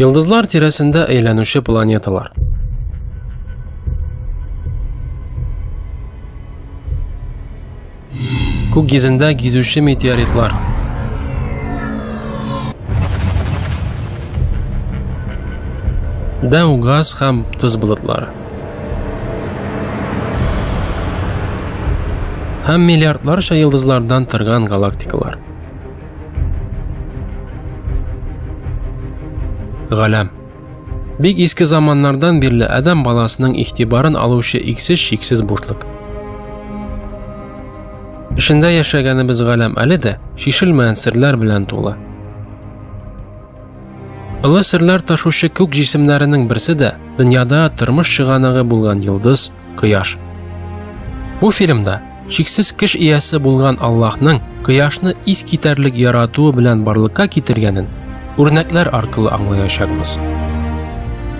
Йолдызлар тирәсендә әйләнүче планеталар. Күк йөзендә гизүче метеоритлар. Дәү газ һәм тоз болытлары. Һәм миллиардларча йылдызлардан торган галактикалар. Галәм. Бик иске заманнардан бирле адам баласының игътибарын алучы иксез шиксез бушлык. Эшендә яшәгәнебез галәм әле дә шишелмәгән серләр белән тулы. Олы серләр ташучы күк җисемнәренең берсе дә дөньяда тормыш чыганагы булган йолдыз Кояш. Бу фильмда шиксез кеш иясе булган Аллаһның Кояшны ис китәрлек яратуы белән барлыкка китергәнен үрнәкләр аркылы аңлаячакбыз.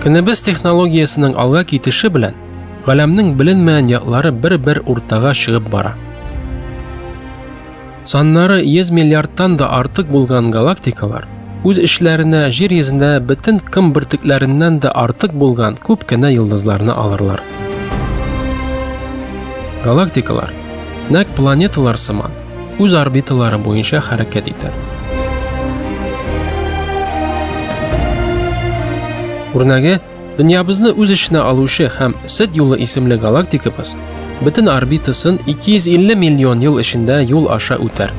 Көнебез технологиясенең алга китеше белән галәмнең беленмәгән яклары бер-бер уртага чыгып бара. Саннары 100 миллиардтан да артык булган галактикалар үз эчләренә Җир йөзендә бөтен кым бөртекләреннән дә артык булган күп кенә йолдызларны алырлар. Галактикалар нәкъ планеталар сыман үз орбиталары буенча хәрәкәт итә. Үрнәге Дөньябызны үз эченә алучы һәм Сет юлы исемле галактикабыз бөтен орбитасын 250 миллион ел эчендә юл аша үтәр.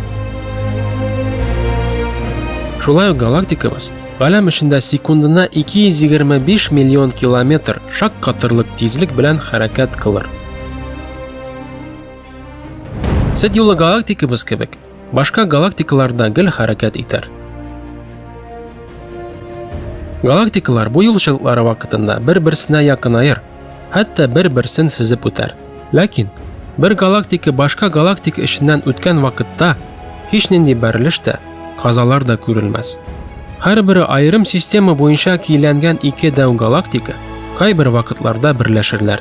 Шулай ук галактикабыз галәм эчендә секундына 225 миллион километр шак катырлык тизлек белән хәрәкәт кылыр. Сет юлы галактикабыз кебек Башка галактикалар да гел хәрәкәт итәр. Галактикалар бу юлчылыклары вакытында бер-берсенә якынаер, хәтта бер-берсен сизеп үтәр. Ләкин бер галактика башка галактика эченнән үткән вакытта һич нинди бәрелеш тә, казалар да күрелмәс. Һәрбере аерым система буенча кийләнгән ике дәү галактика кайбер вакытларда берләшерләр.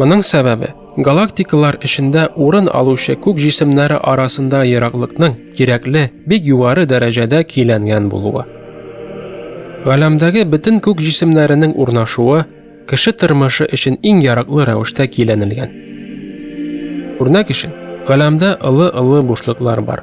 Моның сәбәбе, Галактикалар эчендә урын алучы күк җисемнәре арасында ераклыкның кирәкле, бик югары дәрәҗәдә киләнгән булуы. Галәмдәге бөтен күк җисемнәренең урнашуы кеше тормышы өчен иң яраклы рәвештә киләнелгән. Үрнәк өчен, галәмдә ылы-ылы бушлыклар бар.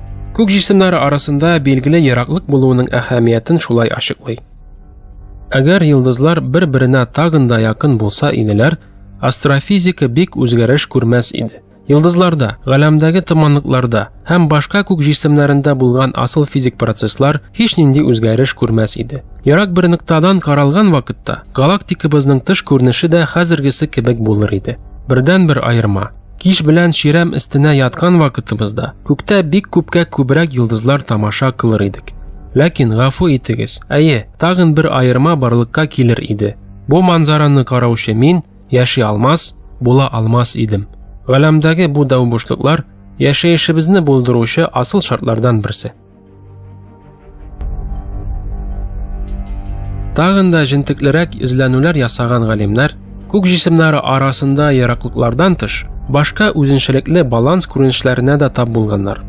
Күк җисемнәре арасында билгеле ераклык булуының әһәмиятен шулай ачыклый. Әгәр йолдызлар бер-беренә тагын да якын булса иделәр, астрофизика бик үзгәреш күрмәс иде. Йолдызларда, галәмдәге томанлыкларда һәм башка күк җисемнәрендә булган асыл физик процесслар һич нинди үзгәреш күрмәс иде. Ярак бер ноктадан каралган вакытта галактикабызның тыш күренеше дә хәзергесе кебек булыр иде. Бердән-бер аерма Кич белән чирәм өстенә яткан вакытыбызда күктә бик күпкә күбрәк йолдызлар тамаша кылыр идек. Ләкин гафу итегез, әйе, тагын бер аерма барлыкка килер иде. Бу манзараны караучы мин яши алмас, була алмас идем. Галәмдәге бу дәү бушлыклар яшәешебезне булдыручы асыл шартлардан берсе. Тагын да җентеклерәк эзләнүләр ясаган галимнәр күк җисемнәре арасында ераклыклардан тыш, башка үзенчәлекле баланс күренешләренә дә тап булганнар.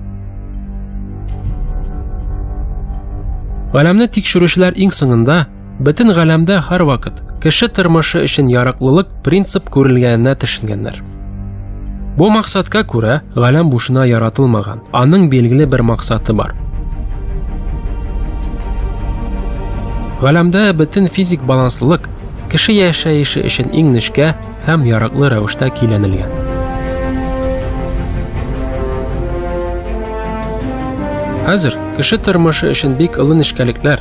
Галәмне тикшерүчеләр иң соңында Бөтен галәмдә һәрвакыт кеше тормышы өчен яраклылык принцип күрелгәненә төшенгәннәр. Бу максатка күрә галәм бушына яратылмаган, аның билгеле бер максаты бар. Галәмдә бөтен физик баланслылык кеше яшәеше өчен иң нечкә һәм яраклы рәвештә киләнелгән. Хәзер кеше тормышы өчен бик олы нечкәлекләр,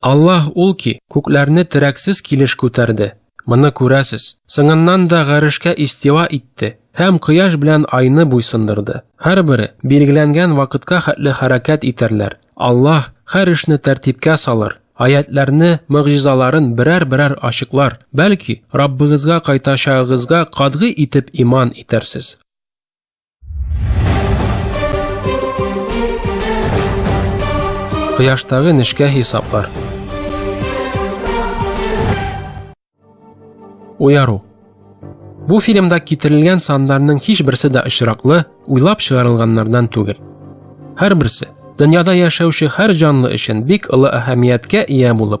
Аллаһ ул ки, күкләрне терәксез килеш күтәрде. Моны күрәсез. Сыңыннан да гарешкә истива итте һәм кояш белән айны буйсындырды. Һәрбере билгеләнгән вакытка хәтле хәрәкәт итәрләр. Аллаһ һәр эшне тәртипкә салыр. Аятларны, мөгъҗизаларын берәр-берәр ачыклар. Бәлки, Раббыгызга кайтачагыгызга катгый итеп иман итәрсез. Кояштагы нечкә хисаплар. Уяру. Бу фильмда китерелгән саннарның һичберсе дә очраклы, уйлап чыгарылганнардан түгел. Һәрберсе дөньяда яшәүче һәр җанлы өчен бик олы әһәмияткә ия булып,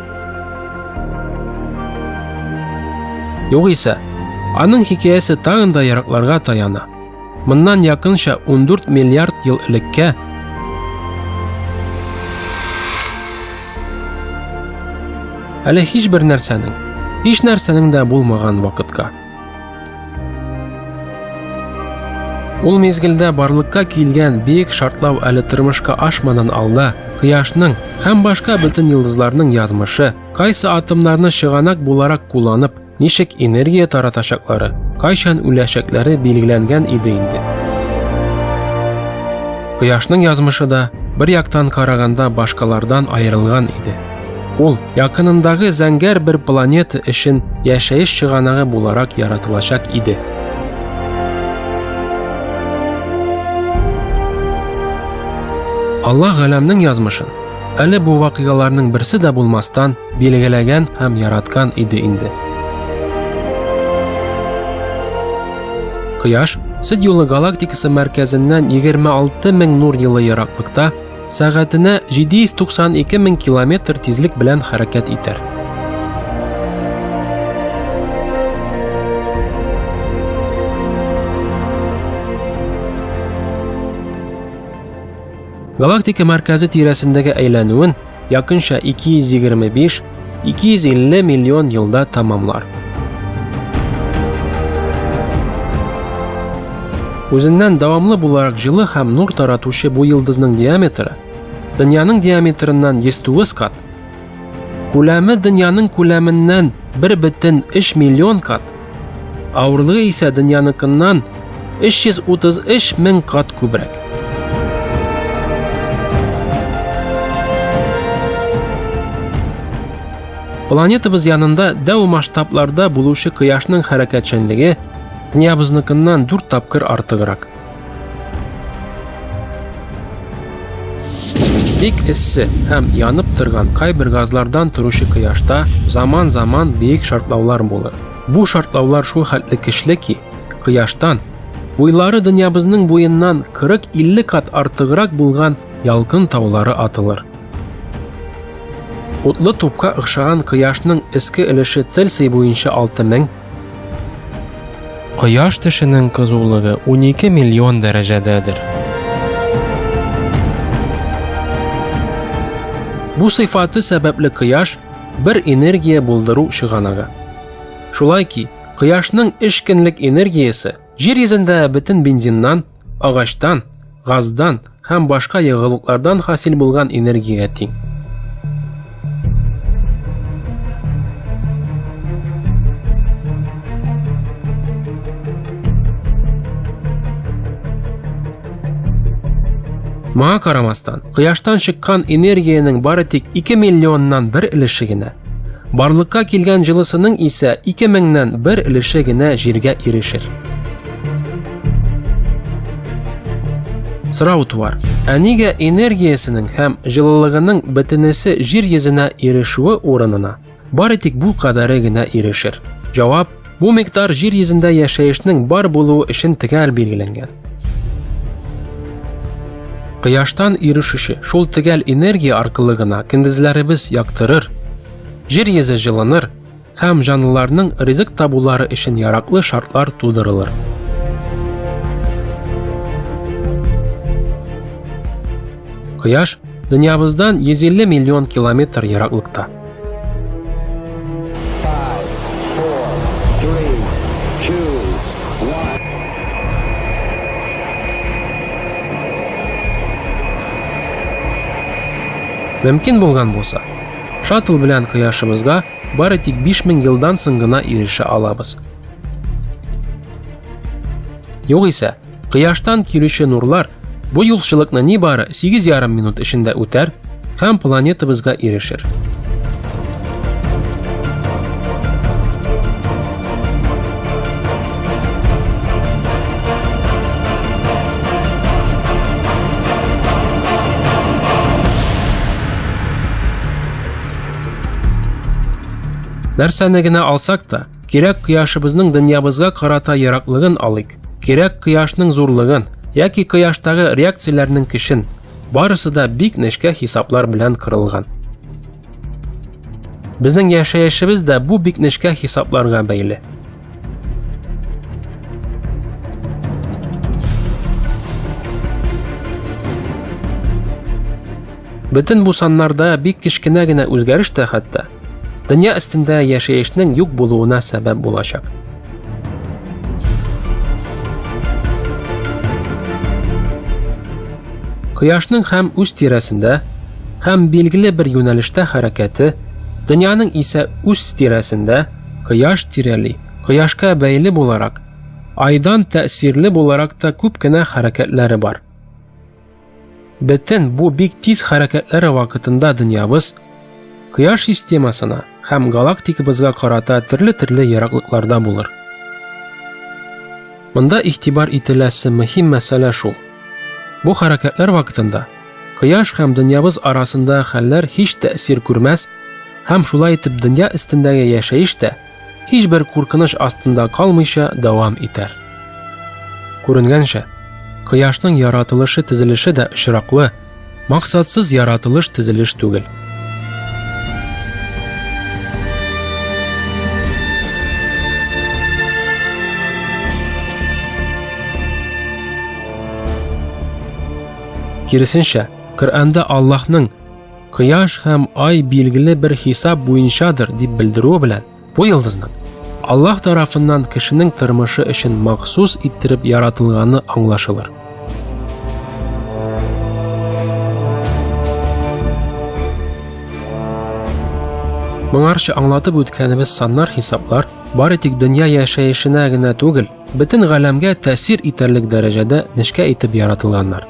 Югыйсә, аның хикәясе тагын да яракларга таяна. Моннан якынча 14 миллиард ел элеккә Әле һичбер нәрсәнең, һич нәрсәнең дә булмаган вакытка. Ул мезгелдә барлыкка килгән бик шартлау әле тормышка ашмадан алда, кояшның һәм башка бөтен йолдызларның язмышы, кайсы атомнарны чыганак буларак кулланып, ничек энергия таратачаклары, кайчан үләчәкләре билгеләнгән иде инде. Кояшның язмышы да бер яктан караганда башкалардан аерылган иде. Ул якынындагы зәңгәр бер планета өчен яшәеш чыганагы буларак яратылачак иде. Алла галәмнең язмышын әле бу вакыйгаларның берсе дә булмастан билгеләгән һәм яраткан иде инде. Кояш Сид юлы галактикасы мәркәзеннән 26 мең нур елы ераклыкта сәгатенә 792 мең километр тизлек белән хәрәкәт итәр. Галактика мәркәзе тирәсендәге әйләнүен якынча 225 250 миллион елда тамамлар. Үзеннән дәвамлы буларак җылы һәм нур таратучы бу йолдызның диаметры дөньяның диаметрыннан 109 кат, күләме дөньяның күләменнән 1,3 миллион кат, Авырлыгы исә дөньяныкыннан 333 мең кат күбрәк. Планетабыз янында дәү масштабларда булучы кояшның хәрәкәтчәнлеге дөньябызныкыннан дүрт тапкыр артыграк. Бик эссе һәм янып торган кайбер газлардан торучы кояшта заман-заман биек шартлаулар булыр. Бу шартлаулар шул хәтле көчле ки, кояштан буйлары дөньябызның буеннан 40-50 кат артыграк булган ялкын таулары атылыр. Утлы тупка охшаган кояшның эске өлеше Цельсий буенча 6000, Кояш тешенең кызулыгы 12 миллион дәрәҗәдәдер. Бу сыйфаты сәбәпле кояш бер энергия булдыру чыганагы. Шулай ки, кояшның эш көнлек энергиясе Җир йөзендә бөтен бензиннан, агачтан, газдан һәм башка ягылыклардан хасил булган энергиягә тиң. Моңа карамастан, кояштан чыккан энергиянең бары тик 2 миллионнан бер өлеше генә Барлыкка килгән җылысының исә ике меңнән бер өлеше генә җиргә ирешер. Сорау туар. Ә нигә энергиясенең һәм җылылыгының бөтенесе җир йөзенә ирешүе урынына бары тик бу кадәре генә ирешер? Җавап Бу микъдар җир йөзендә яшәешнең бар булуы өчен төгәл билгеләнгән. Кояштан ирешүче шул төгәл энергия аркылы гына көндезләребез яктырыр, җир йөзе җылыныр һәм җанлыларның ризык табулары өчен яраклы шартлар тудырылыр. Кояш Дөньябыздан 150 миллион километр ераклыкта. Мөмкин булган булса, шаттл белән кояшыбызга бары тик 5000 елдан соң гына ирешә алабыз. Югыйсә, Кояштан килүче нурлар бу юлчылыкны нибары 8,5 минут эчендә үтәр һәм планетабызга ирешер. Нәрсәне генә алсак та, Кирәк кояшыбызның дөньябызга карата яраклыгын алыйк. Кирәк кояшның зурлыгын яки кояштагы реакцияләрнең кешен. Барысы да бик нечкә хисаплар белән кырылган. Безнең яшәешебез дә бу бик нечкә хисапларга бәйле. Бөтен бу саннарда бик кечкенә генә үзгәреш тә хәтта дөнья өстендә яшәешнең юк булуына сәбәп булачак. Кояшның һәм үз тирәсендә һәм билгеле бер юнәлештә хәрәкәте, дөньяның исә үз тирәсендә кояш тирәли, кояшка бәйле буларак, айдан тәэсирле буларак та күп кенә хәрәкәтләре бар. Бөтен бу бик тиз хәрәкәтләре вакытында дөньябыз Кояш системасына һәм галактикабызга карата төрле-төрле ераклыкларда булыр. Монда игътибар ителәсе мөһим мәсьәлә шул. Бу хәрәкәтләр вакытында Кояш һәм дөньябыз арасында хәлләр һич тәэсир күрмәс һәм шулай итеп дөнья өстендәге яшәеш тә һичбер куркыныч астында калмыйча дәвам итәр. Күренгәнчә, кояшның яратылышы тезелеше дә очраклы, максатсыз яратылыш тезелеш түгел. Киресенчә, Коръәндә Аллаһның Кояш һәм ай билгеле бер хисап буенчадыр дип белдерүе белән, бу йолдызның Аллаһ тарафыннан кешенең тормышы өчен махсус иттереп яратылганы аңлашылыр. Моңарча аңлатып үткәнебез саннар хисаплар бары тик дөнья яшәешенә генә түгел, бөтен галәмгә тәэсир итәрлек дәрәҗәдә нечкә итеп яратылганнар.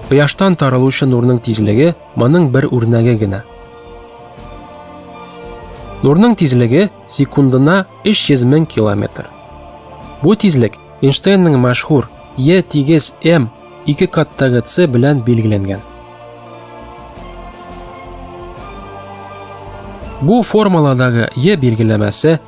Кояштан таралучы нурның тизлеге моның бер үрнәге генә. Нурның тизлеге секундына 300 мең километр. Бу тизлек Эйнштейнның мәшһүр Е тигез М ике каттагы С белән билгеләнгән. Бу формуладагы Е билгеләмәсе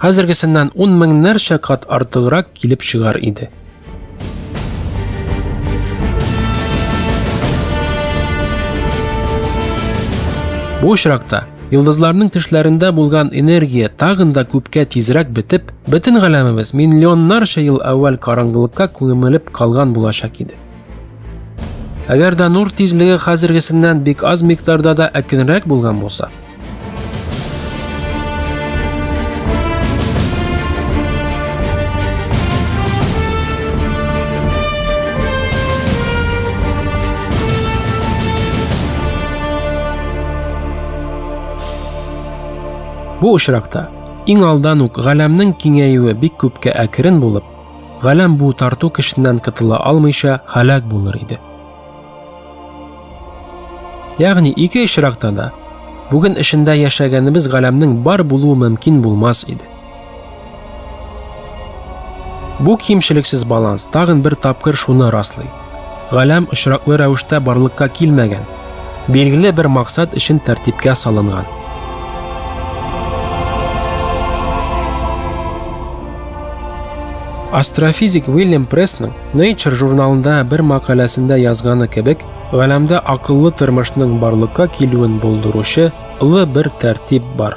хәзергесеннән ун меңнәрчә кат артыграк килеп чыгар иде. Бу очракта Йолдызларның тешләрендә булган энергия тагын да күпкә тизрәк бетеп, бөтен галәмебез миллионнарча ел әүвәл караңгылыкка күмелеп калган булачак иде. Әгәр дә нур тизлеге хәзергесеннән бик аз микъдарда да әкренрәк булган булса, Бу очракта иң алдан ук галәмнең киңәюе бик күпкә әкрен булып, Галәм бу тарту кешеннән котыла алмыйча һәлак булыр иде. Ягъни ике очракта да бүген эшендә яшәгәнебез галәмнең бар булуы мөмкин булмас иде. Бу кимчелексез баланс тагын бер тапкыр шуны раслый. Галәм очраклы рәвештә барлыкка килмәгән, билгеле бер максат өчен тәртипкә салынган. Астрофизик Уильям Прессның Nature журналында бер мәкаләсендә язганы кебек, галәмдә акыллы тормышның барлыкка килүен булдыручы ылы бер тәртип бар.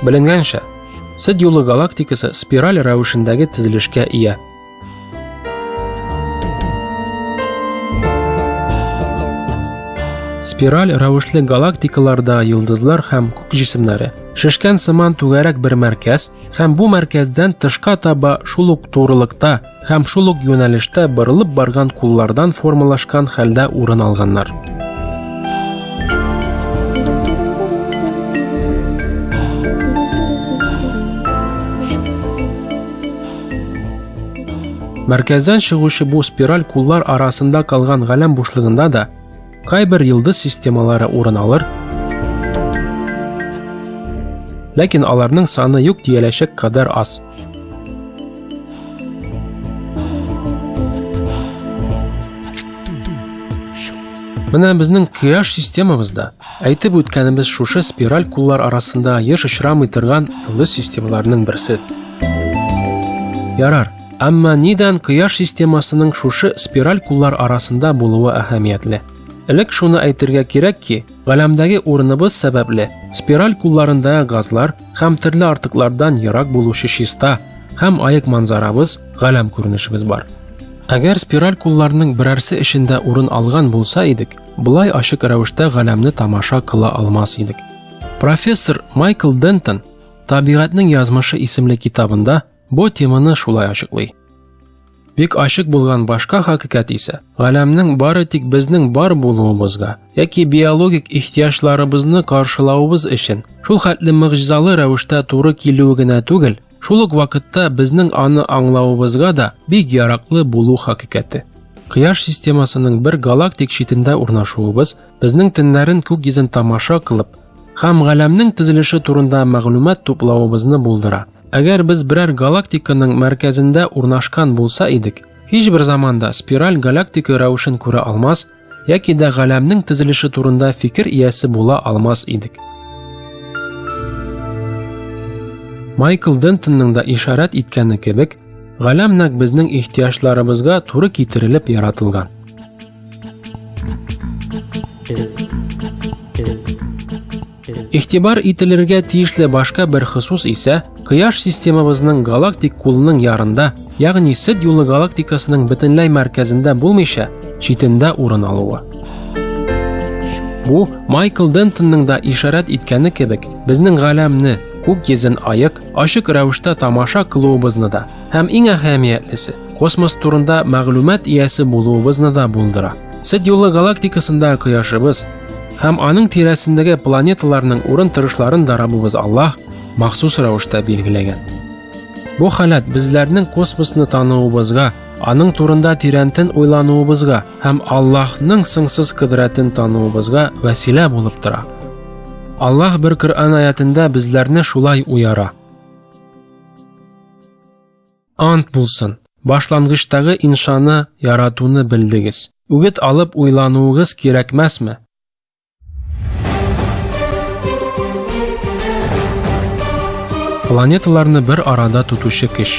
Беленгәнчә, Сыд юлы галактикасы спираль рәвешендәге тезелешкә ия. Спираль рәвешле галактикаларда йолдызлар һәм күк җисемнәре. Шешкән сыман түгәрәк бер мәркәз һәм бу мәркәздән тышка таба шул ук турылыкта Һәм шул ук юнәлештә борылып барган куллардан формалашкан хәлдә урын алганнар. Мәркәздән чыгучы бу спираль куллар арасында калган галәм бушлыгында да Кайбер йолдыз системалары урын алыр, ләкин аларның саны юк диеләчәк кадәр аз. Менә безнең Кыяш системабызда әйтеп үткәнебез шушы спираль куллар арасында еш очрамый торган йолдыз системаларының берсе. Ярар, Әмма нидән Кояш системасының шушы спираль куллар арасында булуы әһәмиятле? Элек шуны әйтергә кирәк ки, галәмдәге урыныбыз сәбәпле спираль кулларында газлар һәм төрле артыклардан ерак булучы чиста һәм аек манзарабыз, галәм күренешебез бар. Әгәр спираль кулларның берәрсе эчендә урын алган булса идек, былай ачык рәвештә галәмне тамаша кыла алмас идек. Профессор Майкл Дентон Табигатьнең язмышы исемле китабында Бу теманы шулай ачыклый. Бик ачык булган башка хакыйкать исә, галәмнең бары тик безнең бар булуыбызга яки биологик ихтиҗларыбызны каршылавыбыз өчен шул хәтле мөгъҗизалы рәвештә туры килүе генә түгел, шул ук вакытта безнең аны аңлавыбызга да бик яраклы булу хакыйкате. Кыяш системасының бер галактик читендә урнашуыбыз безнең төннәрен күк йөзен тамаша кылып һәм галәмнең төзелеше турында мәгълүмат туплавыбызны булдыра. Әгәр без берәр галактиканың мәркәзендә урнашкан булса идек, һичбер заманда спираль галактика рәвешен күрә алмас яки дә галәмнең төзелеше турында фикер иясе була алмас идек. Майкл Дентонның да ишарәт иткәне кебек, галәм нәк безнең ихтиҗларыбызга туры китерелеп яратылган. Игътибар ителергә тиешле башка бер хосус исә Кояш системабызның галактик кулының ярында, ягъни Сид юлы галактикасының бөтенләй мәркәзендә булмыйча, читендә урын алуы. Бу Майкл Дентонның да ишарәт иткәне кебек, безнең галәмне, күк йөзен аек, ачык рәвештә тамаша кылуыбызны да һәм иң әһәмиятлесе, космос турында мәгълүмат иясе булуыбызны да булдыра. Сид юлы галактикасында кояшыбыз Һәм аның тирәсендәге планеталарның урын торышларын да Раббыбыз Аллаһ махсус рәвештә билгеләгән. Бу халат безләрнең космосны тануыбызга, аның турында тирәнтен уйлануыбызга һәм Аллаһның сыңсыз кодрәтен тануыбызга вәсилә булып тора. Аллаһ бер Коръән аятында безләрне шулай уяра. Ант булсын, башлангычтагы иншаны яратуны белдегез. Үгет алып уйлануыгыз кирәкмәсме? Планеталарны бер арада тотучы кеш.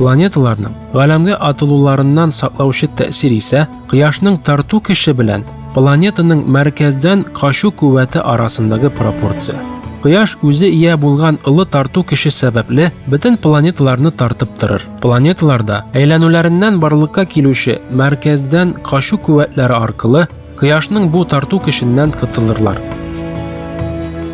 Планеталарның галәмгә атылуларыннан саклаучы тәэсир исә кояшның тарту көче белән планетаның мәркәздән качу куәте арасындагы пропорция. Кояш үзе ия булган ылы тарту көче сәбәпле бөтен планеталарны тартып торыр. Планеталарда әйләнүләреннән барлыкка килүче мәркәздән качу куәтләре аркылы Кояшның бу тарту көченнән котылырлар.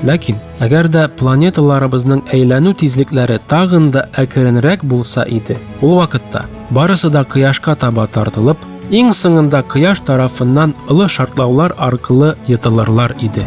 Ләкин, әгәр дә планеталарыбызның әйләнү тизлекләре тагын да әкренрәк булса иде, ул вакытта барысы да кояшка таба тартылып, иң соңында кояш тарафыннан ылы шартлаулар аркылы йытылырлар иде.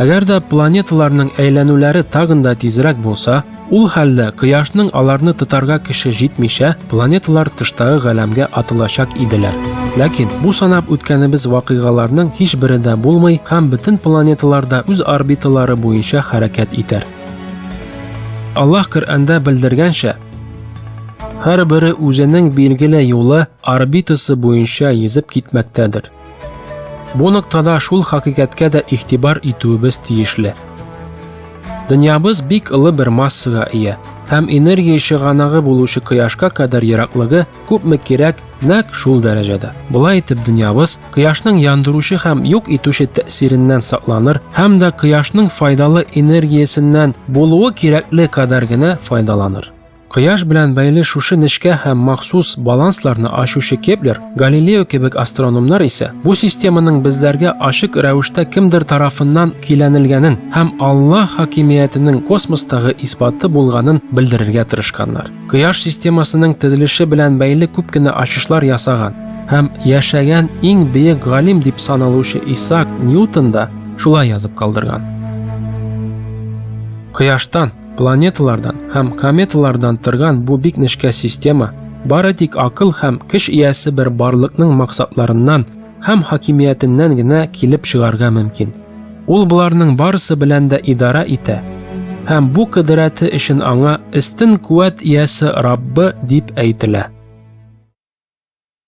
Әгәр дә планеталарның әйләнүләре тагын да тизрәк булса, ул хәлдә кояшның аларны тотарга кеше җитмичә, планеталар тыштагы галәмгә атылачак иделәр. Ләкин бу санап үткәнебез вакыйгаларның һичбере дә булмый һәм бөтен планеталар да үз орбиталары буенча хәрәкәт итәр. Аллаһ Коръәндә белдергәнчә, һәрбере үзенең билгеле юлы орбитасы буенча йөзеп китмәктәдер. Бу ноктада шул хакыйкатькә дә игътибар итүебез тиешле. Дөньябыз бик олы бер массага ия, һәм энергия чыганагы булучы кояшка кадәр ераклыгы күпме кирәк, нәк шул дәрәҗәдә. Болай итеп дөньябыз кояшның яндыручы һәм юк итүче тәэсиреннән сакланыр һәм дә кояшның файдалы энергиясеннән булуы кирәкле кадәр генә файдаланыр. Кояш белән бәйле шушы нечкә һәм махсус балансларны ачучы Кеплер, Галилео кебек астрономнар исә бу системаның безләргә ачык рәвештә кемдер тарафыннан көйләнелгәнен һәм Алла хакимиятенең космостагы исбаты булганын белдерергә тырышканнар. Кояш системасының төзелеше белән бәйле күп кенә ачышлар ясаган һәм яшәгән иң бөек галим дип саналучы Исаак Ньютон да шулай язып калдырган. Кояштан Планеталардан һәм кометалардан торган бу бик нечкә система бары тик акыл һәм көч иясе бер барлыкның максатларыннан һәм хакимиятеннән генә килеп чыгарга мөмкин. Ул боларның барысы белән дә идара итә һәм бу кыдырәте өчен аңа истин куәт иясе Раббы дип әйтелә.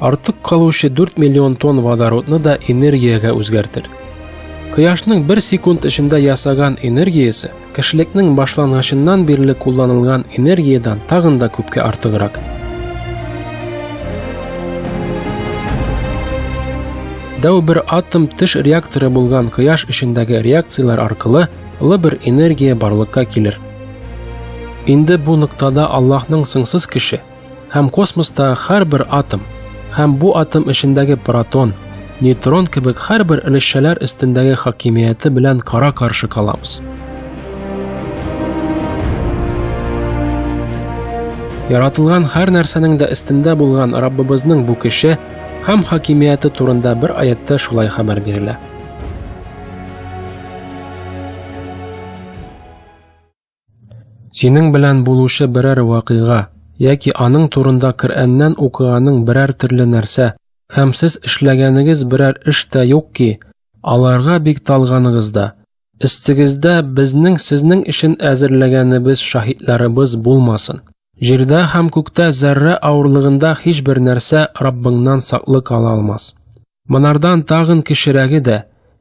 Артык калучы 4 миллион тонн водородны да энергиягә үзгәртер. Кояшның бер секунд эчендә ясаган энергиясе кешелекнең башлангычыннан бирле кулланылган энергиядән тагын да күпкә артыграк. Дәү бер атом теш реакторы булган кояш эчендәге реакцияләр аркылы лы бер энергия барлыкка килер. Инде бу ноктада Аллаһның сыңсыз кеше, Һәм космоста һәрбер атом һәм бу атом эчендәге протон, нейтрон кебек һәрбер өлешчәләр өстендәге хакимияте белән кара-каршы калабыз. Яратылган һәр нәрсәнең дә өстендә булган Раббыбызның бу көче һәм хакимияте турында бер аятта шулай хәбәр бирелә. Синең белән булучы берәр вакыйга яки аның турында Коръәннән укыганың берәр төрле нәрсә һәм сез эшләгәнегез берәр эш тә юк ки, аларга бик талганыгыз да. Өстегездә безнең сезнең өчен әзерләгәнебез шаһитларыбыз булмасын. Җирдә һәм күктә зәррә авырлыгында һичбер нәрсә Раббыңнан саклык ала алмас. Монардан тагын кечерәге дә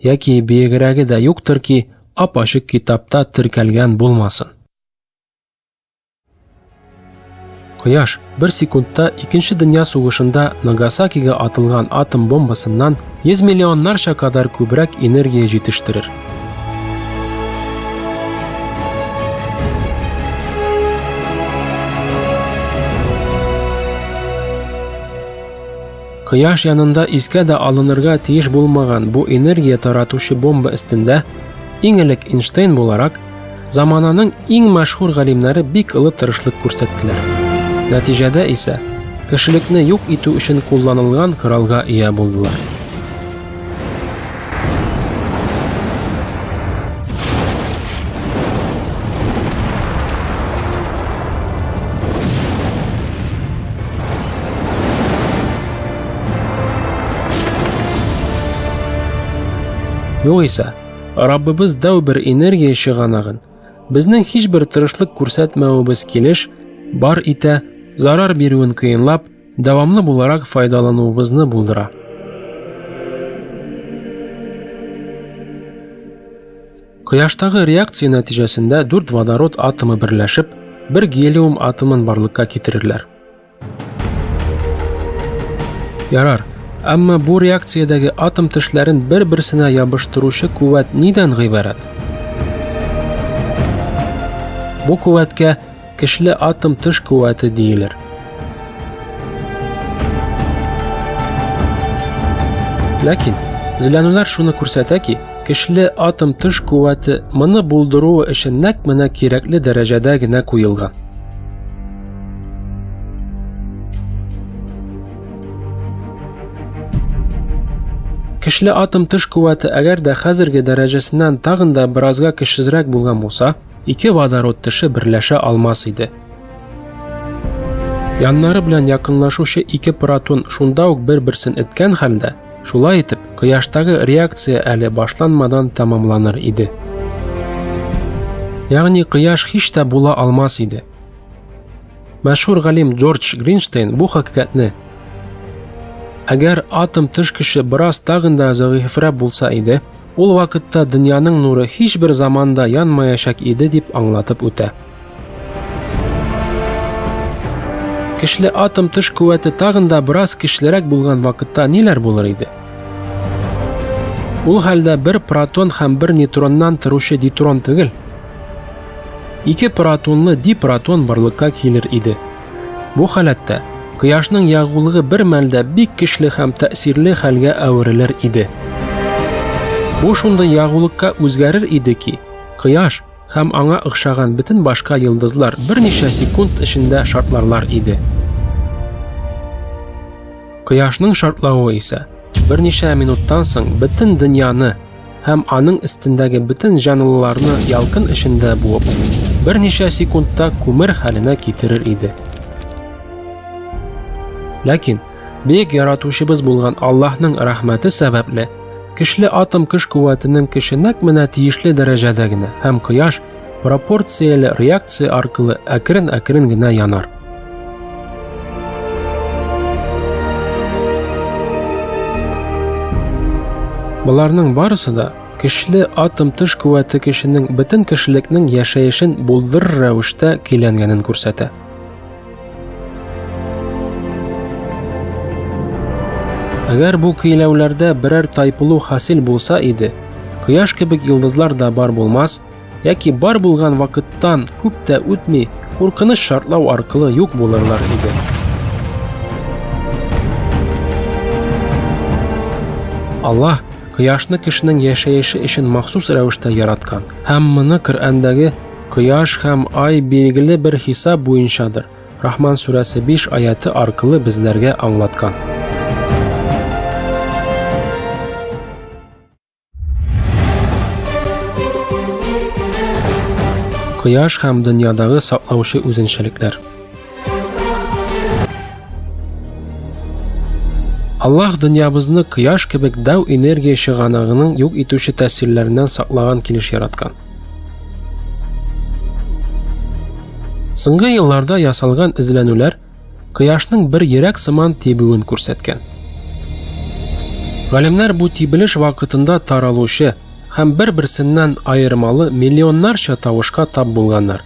яки биегрәге дә юктыр ки, ап-ачык китапта теркәлгән булмасын. Кояш бер секундта икенче дөнья сугышында Нагасакига атылган атом бомбасыннан 100 миллионнарча кадәр күбрәк энергия җитештерер. Кояш янында искә дә алынырга тиеш булмаган бу энергия таратучы бомба өстендә иң элек Эйнштейн буларак замананың иң мәшһүр галимнәре бик олы тырышлык күрсәттеләр. Нәтиҗәдә исә кешелекне юк итү өчен кулланылган коралга ия булдылар. Югыйсә, Раббыбыз дәү бер энергия чыганагын, безнең һичбер тырышлык күрсәтмәвебез килеш, бар итә, зарар бирүен кыенлап, дәвамлы буларак файдалануыбызны булдыра. Кояштагы реакция нәтиҗәсендә дүрт водород атомы берләшеп, бер гелиум атомын барлыкка китерерләр. Ярар, әмма бу реакциядәге атом тешләрен бер-берсенә ябыштыручы куәт нидән гыйбарәт? Бу куәткә Көчле атом тыш куәте диелер. Ләкин зләнүләр шуны күрсәтә ки, көчле атом төш куәте моны булдыруы өчен нәкъ менә кирәкле дәрәҗәдә генә куелган. Көчле атом төш куәте әгәр дә хәзерге дәрәҗәсеннән тагын да беразга көчсезрәк булган булса, ике водород теше берләшә алмас иде. Яннары белән якынлашучы ике протон шунда ук бер-берсен эткән хәлдә, шулай итеп, кояштагы реакция әле башланмадан тәмамланыр иде. Ягъни кояш һич тә була алмас иде. Мәшһүр галим Джордж Гринштейн бу хакыйкатьне Әгәр атом тыш кеше бераз тагын да зәгыйфьрәк булса иде, Ул вакытта дөньяның нуры һичбер заманда янмаячак иде дип аңлатып үтә. Кишле атом тыш куәте тагын да бераз кишлерәк булган вакытта ниләр булыр иде? Ул хәлдә бер протон һәм бер нейтроннан торучы дейтрон түгел, ике протонлы дипротон барлыкка килер иде. Бу халәттә кояшның ягулыгы бер мәлдә бик көчле һәм тәэсирле хәлгә әверелер иде. Бу шундый ягулыкка үзгәрер иде ки, кояш һәм аңа охшаган бөтен башка йолдызлар берничә секунд эчендә шартларлар иде. Кояшның шартлавы исә берничә минуттан соң бөтен дөньяны һәм аның өстендәге бөтен җанлыларны ялкын эчендә буып, берничә секундта күмер хәленә китерер иде. Ләкин бөек яратучыбыз булган Аллаһның рәхмәте сәбәпле, көчле атом көч куәтенең көче нәкъ менә тиешле дәрәҗәдә генә һәм кояш пропорцияле реакция аркылы әкрен-әкрен генә янар. Боларның барысы да көчле атом тыш куәте кешенең бөтен кешелекнең яшәешен булдырыр рәвештә көйләнгәнен күрсәтә. Әгәр бу көйләүләрдә берәр тайпылу хасил булса иде, кояш кебек йолдызлар да бар булмас, яки бар булган вакыттан күп тә үтми, куркыныч шартлау аркылы юк булырлар иде. Аллаһ кояшны кешенең яшәеше өчен махсус рәвештә яраткан. Һәм моны Коръәндәге Кояш һәм ай билгеле бер хисап буенчадыр. Рахман сүрәсе 5 аяты аркылы безләргә аңлаткан. Кояш һәм дөньядагы саклаучы үзенчәлекләр. Аллаһ дөньябызны кояш кебек дәү энергия чыганагының юк итүче тәэсирләреннән саклаган килеш яраткан. Соңгы елларда ясалган эзләнүләр кояшның бер йөрәк сыман тибүен күрсәткән. Галимнәр бу тибелеш вакытында таралучы һәм бер-берсеннән аермалы миллионнарча тавышка тап булганнар.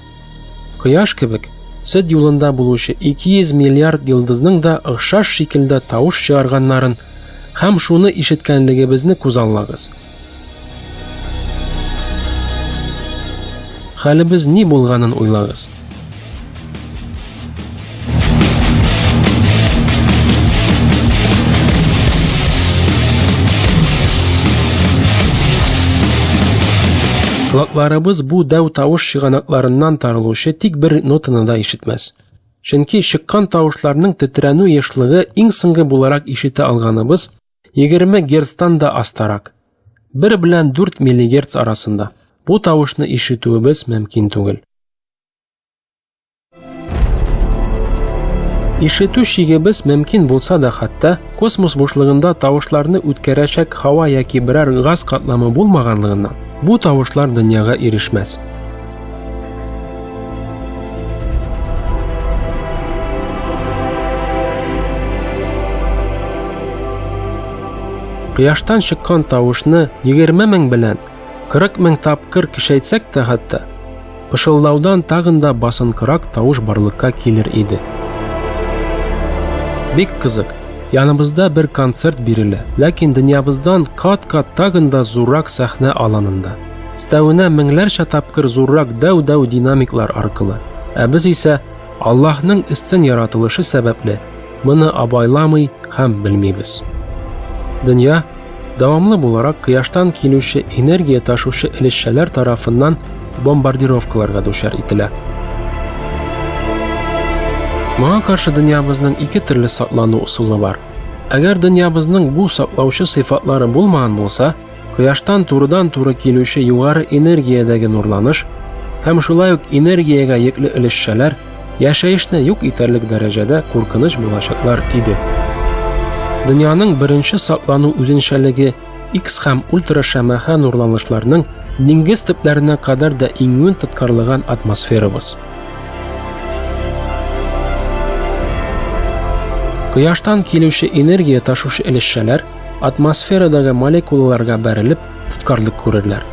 Кояш кебек сөт юлында булучы 200 миллиард йолдызның да охшаш шикелдә тавыш чыгарганнарын һәм шуны ишеткәнлегебезне күзаллагыз. Хәлебез ни булганын уйлагыз. Колакларыбыз бу дәү тавыш чыганакларыннан тарылучы тик бер нотаны да ишетмәс. Чөнки чыккан тавышларның тетрәнү ешлыгы иң соңгы буларак ишетә алганыбыз 20 герцтан да астарак. 1 белән 4 миллигерц арасында. Бу тавышны ишетүебез мөмкин түгел. Ишетү шигебез мөмкин булса да хәтта космос бушлыгында тавышларны үткәрәчәк һава яки берәр газ катламы булмаганлыгыннан бу тавышлар дөньяга ирешмәс. Кояштан чыккан тавышны 20 мең белән 40 мең тапкыр кишәйтсәк тә хәтта, пышылдаудан тагын да басынкырак тавыш барлыкка килер иде. Бик кызык. Яныбызда бер концерт бирелә, ләкин дөньябыздан кат-кат тагын да зуррак сәхнә аланында. Өстәвенә меңләрчә тапкыр зуррак дәү-дәү динамиклар аркылы. Ә без исә Аллаһның өстен яратылышы сәбәпле моны абайламый һәм белмибез. Дөнья дәвамлы буларак кояштан килүче энергия ташучы элешчәләр тарафыннан бомбардировкаларга дучар ителә. Моңа каршы дөньябызның ике төрле саклану ысулы бар. Әгәр дөньябызның бу саклаучы сыйфатлары булмаган булса, Кояштан турыдан-туры килүче югары энергиядәге нурланыш һәм шулай ук энергиягә йөкле өлешчәләр яшәешне юк итәрлек дәрәҗәдә куркыныч булачаклар иде. Дөньяның беренче саклану үзенчәлеге X һәм ультрашәмәхә нурланышларның диңгез төпләренә кадәр дә иңүен тоткарлыган атмосферабыз. Кояштан килүче энергия ташушы өлешчәләр Атмосферадагы молекулаларга бәрелеп, тоткарлык күрерләр.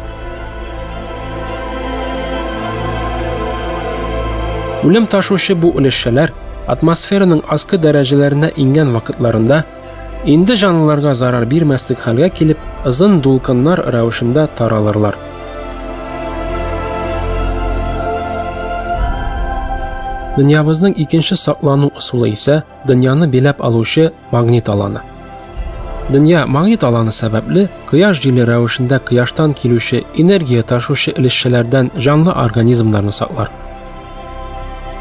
Үлем ташучы бу өлешчәләр атмосфераның аскы дәрәҗәләренә иңгән вакытларында инде җанлыларга зарар бирмәслек хәлгә килеп, озын дулкыннар рәвешендә таралырлар. Дөньябызның икенче саклану ысулы исә – Дөньяны биләп алучы магнит аланы. Дөнья магнит аланы сәбәпле кояш җиле рәвешендә кояштан килүче энергия ташучы өлешчәләрдән җанлы организмнарны саклар.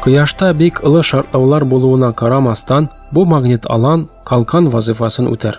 Кояшта бик олы шартлаулар булуына карамастан, бу магнит алан калкан вазифасын үтәр.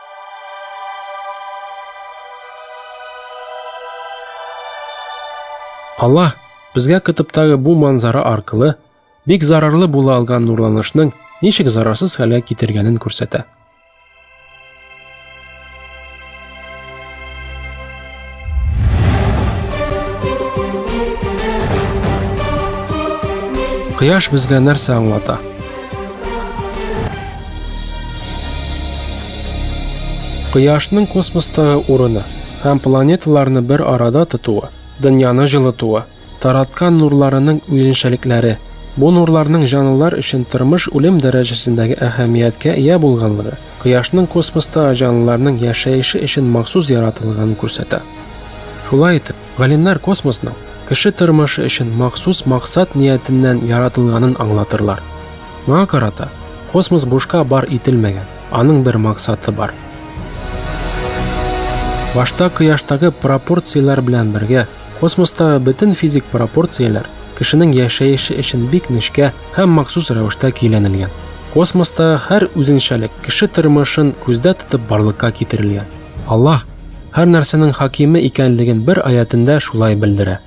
Аллаһ безгә кытыптагы бу манзара аркылы бик зарарлы була алган нурланышның ничек зарарсыз хәлгә китергәнен күрсәтә. Кояш безгә нәрсә аңлата? Кояшның космостагы урыны һәм планеталарны бер арада тотуы, дөньяны җылытуы, Тараткан нурларының үзенчәлекләре. Бу нурларның җанлылар өчен тормыш-үлем дәрәҗәсендәге әһәмияткә ия булганлыгы, Кояшның космостагы җанлыларның яшәеше өчен махсус яратылганын күрсәтә. Шулай итеп, галимнәр космосның кеше тормышы өчен махсус максат ниятеннән яратылганын аңлатырлар. Моңа карата, космос бушка бар ителмәгән, аның бер максаты бар. Башта Кояштагы пропорцияләр белән бергә, Космостагы бөтен физик пропорцияләр кешенең яшәеше өчен бик нечкә һәм махсус рәвештә көйләнелгән. Космостагы һәр үзенчәлек кеше тормышын күздә тотып барлыкка китерелгән. Аллаһ һәр нәрсәнең хакиме икәнлеген бер аятендә шулай белдерә.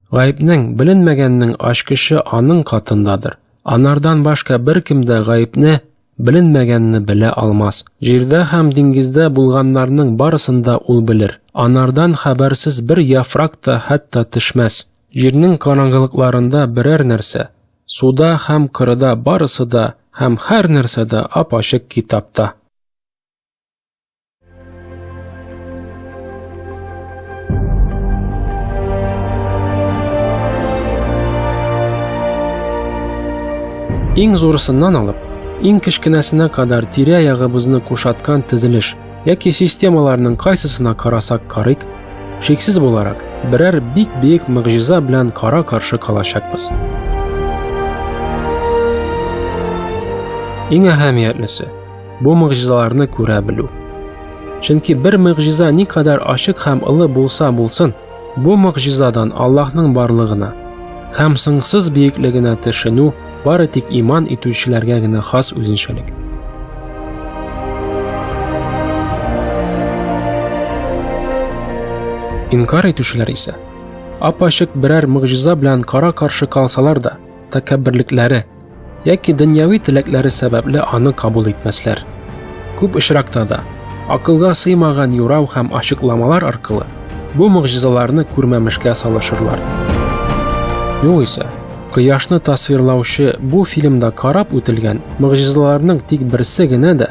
Гаепнең, беленмәгәннең ачкычы аның катындадыр. Анардан башка бер кем дә гаепне, беленмәгәнне белә алмас. Җирдә һәм диңгездә булганнарның барысын да ул белер. Анардан хәбәрсез бер яфрак та хәтта төшмәс. Җирнең караңгылыкларында берәр нәрсә, суда һәм кырыда барысы да һәм һәр нәрсә дә ап-ачык китапта. Иң зурысыннан алып, иң кечкенәсенә кадәр тирә-ягыбызны кушаткан тезелеш яки системаларның кайсысына карасак карыйк, шиксез буларак, берәр бик биек мөгъҗиза белән кара-каршы калачакбыз. Иң әһәмиятлесе, Бу могҗизаларны күрә белү. Чөнки бер могҗиза никадәр ачык һәм олы булса булсын, бу могҗизадан Аллаһның барлыгына һәм сыңсыз биеклегенә төшенү бары тик иман итүчеләргә генә хас үзенчәлек. Инкар итүчеләр исә апачык берәр могҗиза белән кара-каршы калсалар да, тәкәбберлекләре Яки дөньяви теләкләре сәбәпле аны кабул итмәсләр. Күп очракта да акылга сыймаган юрау һәм ачыкламалар аркылы бу могҗизаларны күрмәмешкә салышырлар. Югыйсә, кояшны тасвирлаучы бу фильмда карап үтелгән могҗизаларның тик берсе генә дә